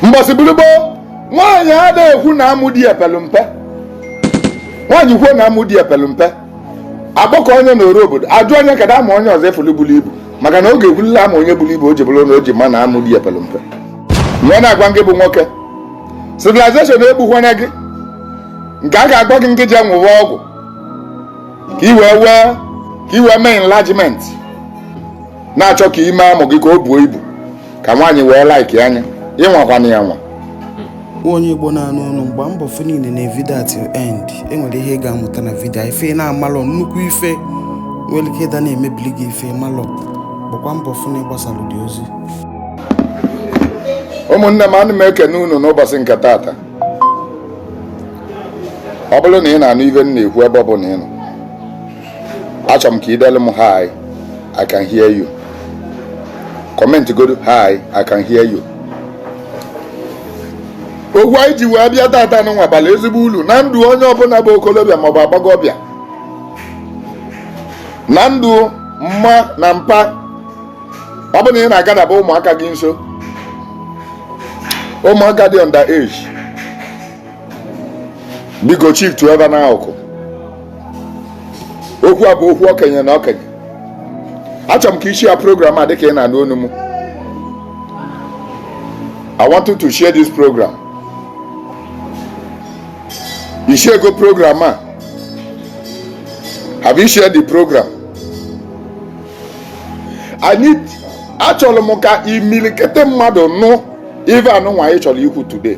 mbọsị bụrụ gbo nwaanyị ada ekwu na amụ di e pelu mpe nwaanyị kwuo na amụ di e pelu mpe agbakọọ nya n'oro obodo ajụọ nya kedụ amụ onye ọzọ ọ fụlụ bulu ibu maka na ọ ga-ekwulịlị amụ onye bulu ibu o ji bụrụ na o ji ma na amụ di e pelu mpe m wee na-agwa gị bụ nwoke civilization egbukwana gị nke a ga-agwa gị ngị jee ṅụwa ọgwụ ka i wee mee enlargement na-achọ ka i mee amụ gị ka o buo ibu ka nwaanyị wee likea nya ị nwakwana ya anwa onye igbo na-anụ onu m gba mbọ fụ na i nenee vidio a till end e nwere ihe ị ga-amụta na vidio a. ife ị na-amalọ nnukwu ife nwere ike ịda na-emebili gị ife ị malọ gbakwa mbọ fụ na ị gbasara dị ozi ụmụnne m ana m ekene unu n'ụbọchị nke tata ọ bụrụ na ị na-anụ ive m na-ekwu ebe ọ bụla ị nọ achọrọ m ka i delu m hi i can hear you comment godu hi i can hear you okwu anyị ji wee bịa tata nụwa bara ezigbo ulu na ndụ onye ọbụla bụ okolobịa maọbụ agbọghọbịa na ndụ mma na mpa ọ bụ na ị na-agadaba ụmụaka gị nso ụmụaka dị under age biko shiftụọ ebe n'akụkụ okwu a bụ okwu okenye na okenye achọrọ m ka i share program a dịka ị na-anụ onu m I want you to share this program i sharego program a have you shared the program I need achọrọ m ka imilikiti mmadụ nụ ive anụnwa anyị chọrọ ikwu today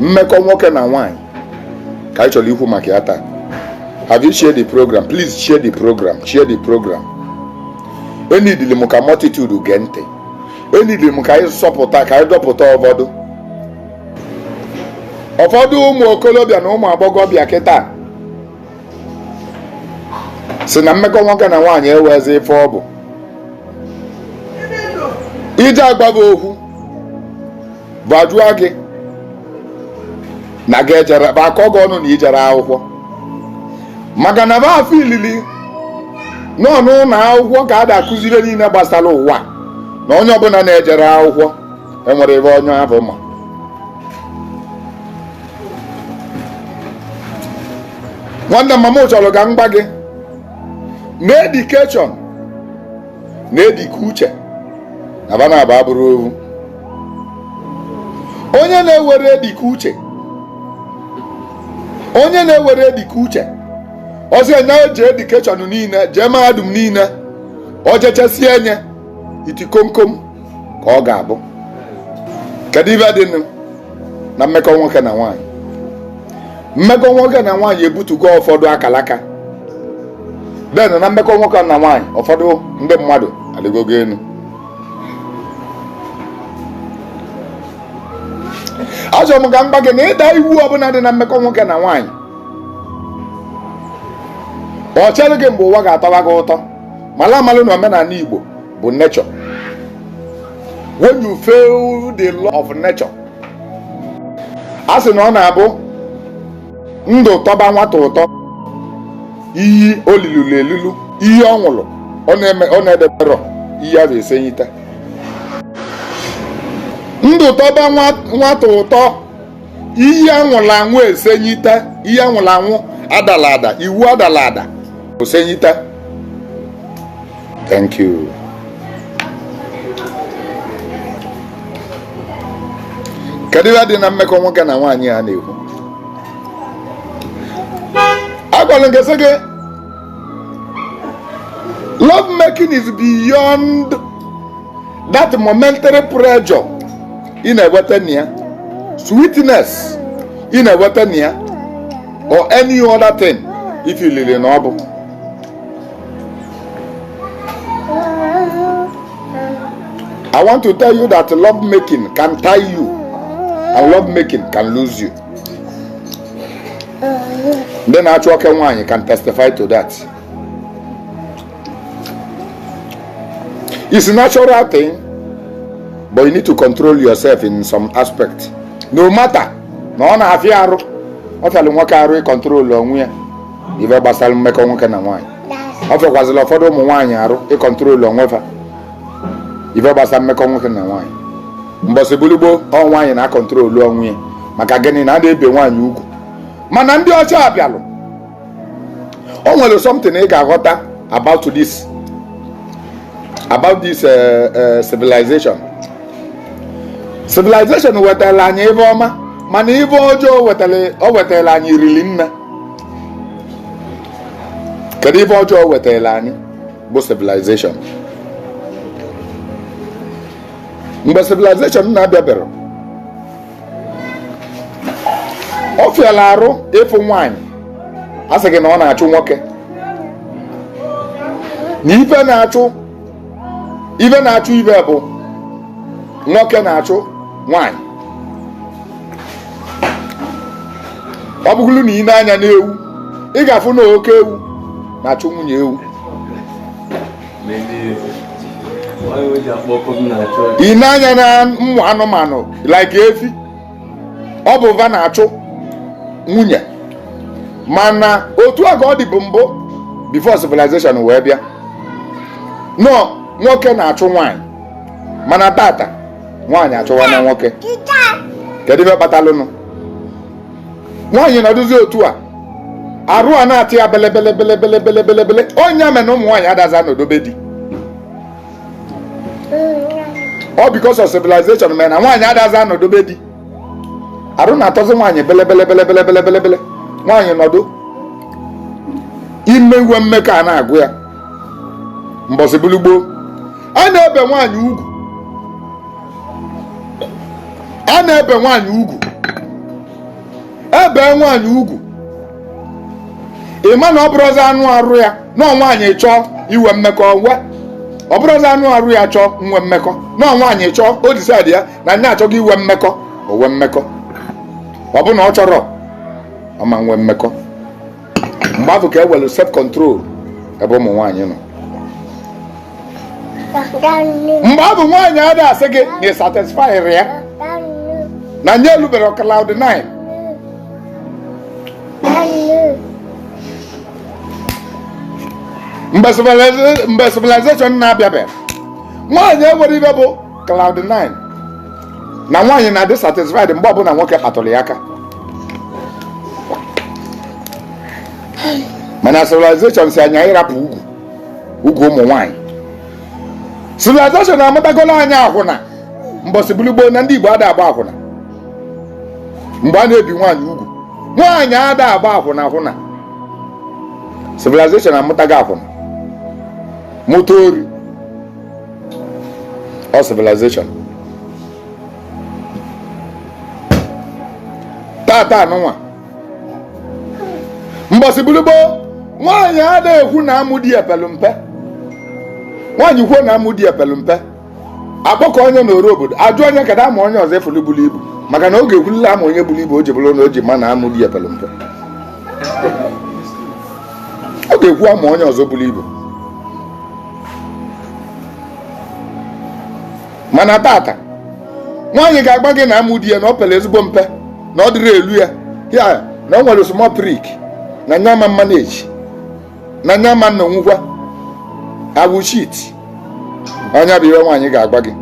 mmekọ nwoke na nwaanyị ka anyị chọrọ ikwu maka ya taa have you shared the program please share the program share the program e needili m ka multitude gee ntị e needili m ka anyị zọpụta ka anyị dọpụta ụfọdụ ụfọdụ ụmụ okolobịa na ụmụ agbọghọbịa kịta sị na mmekọ nwoke na nwaanyị enwezi ife ọ bụ i je agwa ba okwu va ajụọ gị na gị ejerọ ba akọọ gị ọnụ na i jerọ akwụkwọ maka na ba feelili na ọ n'ụnọ akwụkwọ ka a da-akụzi ive niile gbasara ụwa na onye ọbụla na-ejerọ akwụkwọ enwerọ ive onye afụ ma nwanne m ọma m chọrọ ka m gwa gị na education na edike uche na ba naabọ abụrọ ovu onye na-enwerọ dịka uche onye na-enwerọ dịka uche ọ sị onye ji education niile jee mahadum niile o jechasịa onye iti komkom ka ọ ga-abụ kedu ife dị na mmekọ nwoke na nwaanyị mmekọ nwoke na nwaanyị ebutugo ụfọdụ akalaka then na mmekọ nwoke na nwaanyị ụfọdụ ndị mmadụ alịgogo enu achọrọ m ka m gwa gị na ịda iwu ọbụla dị na mmekọ nwoke na nwaanyị ọ chere gị mgbe ụwa ga-atọba gị ụtọ mala amalụ na omenala Igbo bụ nature when you fail the law of nature a sị na ọ na-abụ ndụ tọba nwata ụtọ iyi o liluru elilu iyi ọ ṅụrụ ọ na-eme ọ na-edeberọ iyi a ga-esenyite ndụ tọba nwa- nwata ụtọ iyi a ṅụrụ aṅụ esenyite iyi a ṅụrụ aṅụ a dala ada iwu a dala ada o senyite Thank you. kedu ihe dị na mmekọ nwoke na nwaanyị a na-ekwu agwara m gị sị gị love making is beyond that momentary pleasure ị na-enweta na ya sweetness ị na-enweta na ya or any other thing ị feelịrị na ọ bụ I want to tell you that love making can tie you and love making can loose you. Ndị na-achụ oke nwaanyị can testify to that. It's a natural thing, but you need to control yourself in some aspect. No matter na ọ na-afịa arụ ọ fịalụ nwoke arụ ịkọntrol onwe ya ife gbasara mmekọ nwoke na nwaanyị ọ fịakwazịla ụfọdụ ụmụ nwaanyị arụ ịkọntrolu onwe fa ife gbasara mmekọ nwoke na nwaanyị mbọsị bụlụ gboo ọ nwaanyị na-akọntrolu onwe ya maka gịnị na a na-ebe nwaanyị ugwu mana ndị ọcha abịalụ o nwere something ị ga-aghọta about this about this uh, uh, civilization civilization wetara anyị ife ọma mana ife ọjọọ o wetara anyị riri nne kedu ife ọjọọ wetara anyị bụ civilization mgbe civilization na-abịaberọ ọ fịala arụ ịfụ nwaanyị a sị gị na ọ na-achụ nwoke na ife na-achụ ife na-achụ ife bụ nwoke na-achụ nwanyị ọ bụgolo na i nee anya n'ewu ị ga-afụ na oke ewu na-achụ nwunye ewu i nee anya na ụmụ anụmanụ like efi ọ bụ va na-achụ nwunye mana otu a ka ọ dịbụ mbụ before civilization wee bịa na ọ nwoke na-achụ nwaanyị mana tata nwaanyị achụwana nwoke kedu ife kpatalụnụ nwaanyị nọdụzi otu a arụ a na-atọ ya belebelebelebelebelebele ọ nya mere na ụmụ nwaanyị adazi anọdụ be di ọ because of civilization mere na nwaanyị adazi anọdụ be di arụ na-atọzi nwaanyị belebelebelebelebelebele nwaanyị nọdụ ime inwe mmekọ a na-agụ ya mbọsị bụlụ gboo a na-ebe nwaanyị ugwu a na-ebe nwaanyị ugwu e bee nwaanyị ugwu ị ma na ọ bụrọzi anụ arụ ya na ọ nwaanyị chọọ inwe mmekọ nwee ọ bụrọzi anụ arụ ya chọọ nwe mmekọ na ọ nwaanyị chọọ o decide ya na nya achọgo inwe mmekọ o nwee mmekọ ọ bụ na ọ chọrọ ọ ma nwe mmekọ mgbe afụ ka e nwelu self control ebe ụmụ nwaanyị nọ mgbe afụ nwaanyị ada asị gị na ị satisfyrọ ya na nya elubero cloud 9 mgbe civilization na-abịabe nwaanyị enwero ife bụ cloud 9 na nwaanyị na-adị satisfied mgbe ọbụla nwoke kpatụrụ ya aka mana civilization sị anyị rapụ ugwu ugwu ụmụ nwaanyị civilization amụtagolu anyị akwụna mbọsị bụlụ gboo na ndị Igbo ada agba akwụna mgbe a na-ebi nwaanyị ugwu nwaanyị ada agba akwụna akwụna civilization amụtago akwụna mụta ori ọ civilization tata anụnwa mbọsị bụrụ gboo nwaanyị ada ekwu na amụ di e pelu mpe nwaanyị kwuo na amụ di e pelu mpe a kpọkọọ nya n'oru obodo a jụọ nya kedụ amụ onye ọzọ ọ fụlụ bulu ibu maka na ọ ga-ekwulili amụ onye buru ibu o ji bụrụ na o ji ma na amụ di e pelu mpe ọ ga-ekwu amụ onye ọzọ buru ibu mana tata nwaanyị ga-agwa gị na amụ di ya na ọ pere ezigbo mpe na ọ dịrọ elu ya ya na ọ nwere small prick na nya ama manage na nya ma nna onwukwa awụ shit ọ nya bụ ihe nwaanyị ga-agwa gị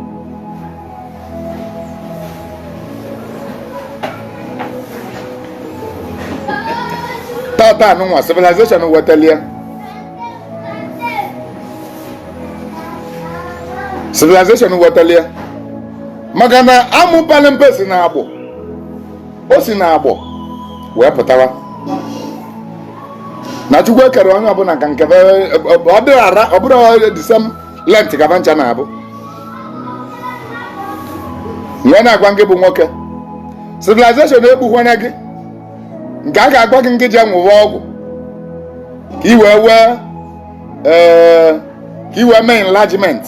tata anụnwa civilization wetalụ ya civilization wetalụ ya maka na amụ pelụ mpe si na agbọ o si na agbọ wee pụta ụwa na chukwu ekero onye ọbụla ka nke ọ dịrị ara ọ bụrọ the same length ka ba ncha na-abụ m wee na-agwa gị bụ nwoke civilization egbukwana gị nke a ga-agwa gị ngị jee nwụwa ọgwụ ka i wee wee ee eh, ka i wee mee enlargement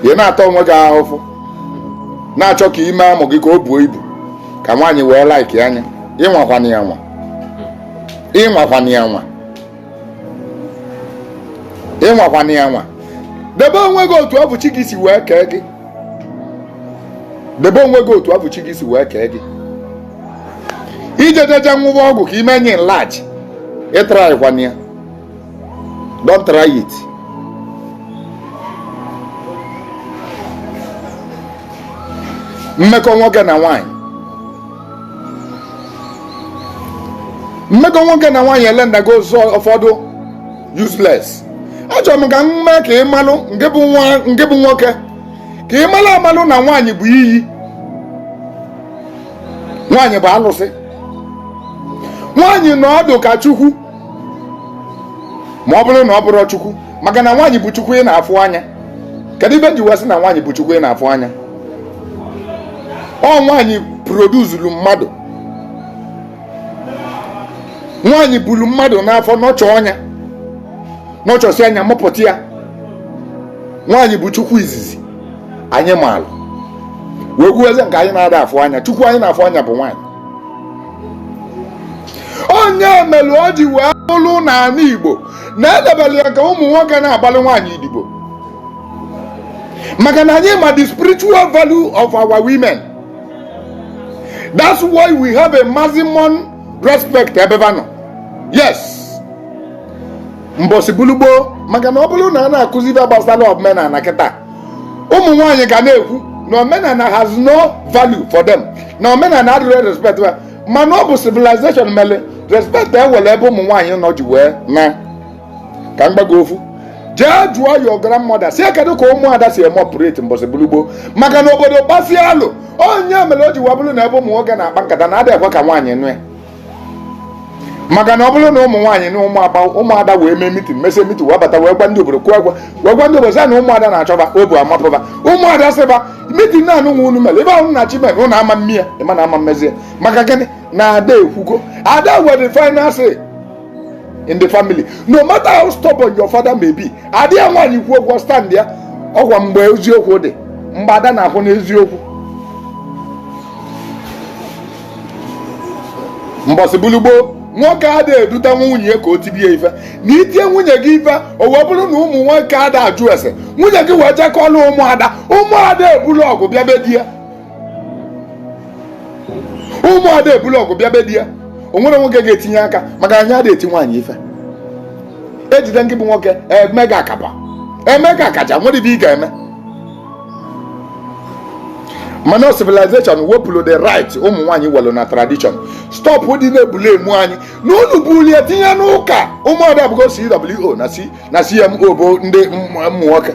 ị na-ata onwe gị afụfụ na-achọ ka i mee amụ gị ka o buo ibu ka nwaanyị wee like nya ị nwakwana ya anwa ị nwakwana ya anwa ị nwakwana ya anwa debe onwe gị otu afụ chi gị si wee kee gị debe onwe gị otu afụ chi gị si wee kee gị ijejeje nwụwa ọgwụ ka i mee nya enlarge ị trykwana ya don't try it mmekọ nwoke na nwaanyị mmekọ nwoke na nwaanyị elendago ụzọ ụfọdụ useless achọrọ m ka m mee ka ị malụ nke bụ nwa nke bụ nwoke ka ị malụ amalụ na nwaanyị bụ iyi nwaanyị bụ alụsị nwaanyị nọ ọdụ ka chukwu ma ọ bụrụ na ọ bụrọ chukwu maka na nwaanyị bụ chukwu ị na-afụ anya kedu ife m ji wee sị na nwaanyị bụ chukwu ị na-afụ anya ọ nwaanyị producelụ mmadụ nwaanyị buru mmadụ n'afọ nurture nya nurturesịa nya mụpụta ya nwaanyị bụ chukwu izizi anyị maalụ wee kwuzie nke anyị na-ada afụ anya chukwu anyị na-afụ anya bụ nwaanyị ọ nya mere o ji wee bụrụ n'ala Igbo na e debere ya ka ụmụ nwoke na-agbalị nwaanyị idibo maka na anyị ma the spiritual value of our women that's why we have a maximum respect ebe ba nọ yes mbọsị bụlụ gboo maka na ọ bụrụ na a na-akụzi ife gbasara omenala kịta ụmụ nwaanyị ga na-ekwu na omenala has no value for them na omenala adịrọ respect mana ọ bụ civilization mere respect ewere ebe ụmụ nwaanyị nọ ji wee na ka mgbago ofu jee jụọ your grandmother si kedu ka ụmụada si eme operate mbọsị bulugbo maka na obodo gbasie alụ ọ ya mere o ji wee bụrụ na ebe ụmụ nwoke na-akpa nkata na adịghị ekwe ka nwaanyị nụ ya maka na ọ bụrụ na ụmụ nwaanyị na ụmụaba ụmụada wee mee mitin mesie mitin wee bata wee gwa ndị obodo kwuo agwa wee gwa ndị obodo sị na ụmụada na-achọ ba obu amapụ ba ụmụada sị ba meeting na anụ nwa unu mere ebe ahụ na-achị mere ụnụ ama mmiri ịma na ama mmezi ya maka gịnị na ada ekwugo ada were the final say in the family no matter how stubborn your father may be ada ya nwaanyị kwuo okwu ọ standịa ọkwa mgbe eziokwu dị mgbe ada na-akwụ n'eziokwu mbọsị bulugbo nwoke ada eduta nwunye ka o tibie ife na itie nwunye gị ife o wee bụrụ na ụmụ nwoke ada ajụ ese nwunye gị wee je kọọlụ ụmụada ụmụada ebulu ọgụ bịa be di ya ụmụada ebulu ọgụ bịa be di ya o nwere nwoke ga-etinye aka maka anyị ada eti nwaanyị ife ejide nke bụ nwoke e mee gị akaba e mee gị akaja nwere ibe ị ga-eme mana civilization wepụrụ the right ụmụ nwaanyị welu na tradition stop dị na-ebuli ụmụ nwanyị na unu bulie tinye n'ụka ụmụada abụgo cwo na C- na cmo bụ ndị ụmụ ụmụ nwoke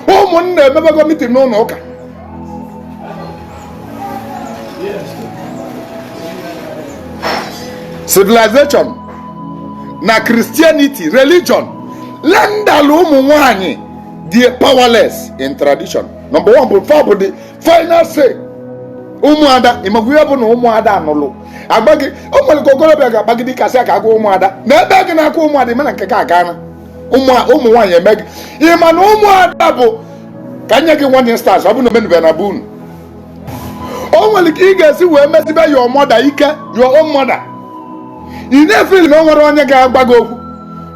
ụmụnna emebego mitin n'ụlọ ụka civilization na christianity religion renderlụ ụmụ nwanyị they are powerless in tradition number one bụ fa bụ the final say ụmụada ịmakwa ihe bụ na ụmụada anụlụ agba gị o nwere ka okorobịa ga-agbagide a sị ka a gwa ụmụada na ebe gị na-akụ ụmụada ịma na nke ka agaana ụmụ nwaanyị eme gị ịma na ụmụada bụ ka nye gị one instance ọ bụ na omenube na be unu o nwere ka ị ga-esi wee mesibe your mother ike your own mother ị na-efili na o nwere onye ga-agba gị okwu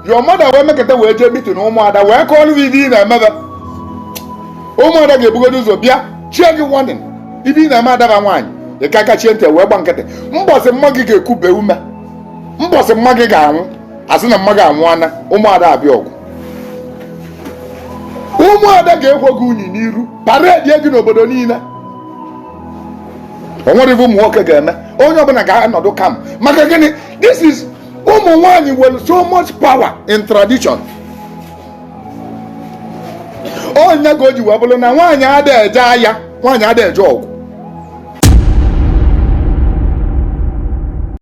your mother wee mekata wee jee mitin ụmụada wee kọọrọ gị ibe ị na-emebe ụmụada ga-ebugodo ụzọ bịa chie gị warning ibe ị na-eme adaba nwaanyị ị ka kachie ntị wee gba nkịtị mbọsị mama gị ga-ekube ume mbọsị mama gị ga-anwụ a sị na mama gị anwụana ụmụada abịa ọgụ ụmụada ga-ekwo gị unyi n'iru paredi gị n'obodo niile o nwere ife ụmụ nwoke ga-eme onye ọbụla ga-anọdụ calm maka gịnị this is ụmụ nwanyị nwere so much power in tradition ọ ya ka o ji wee bụrụ na nwaanyị ada eje aya nwaanyị ada eje ọgụ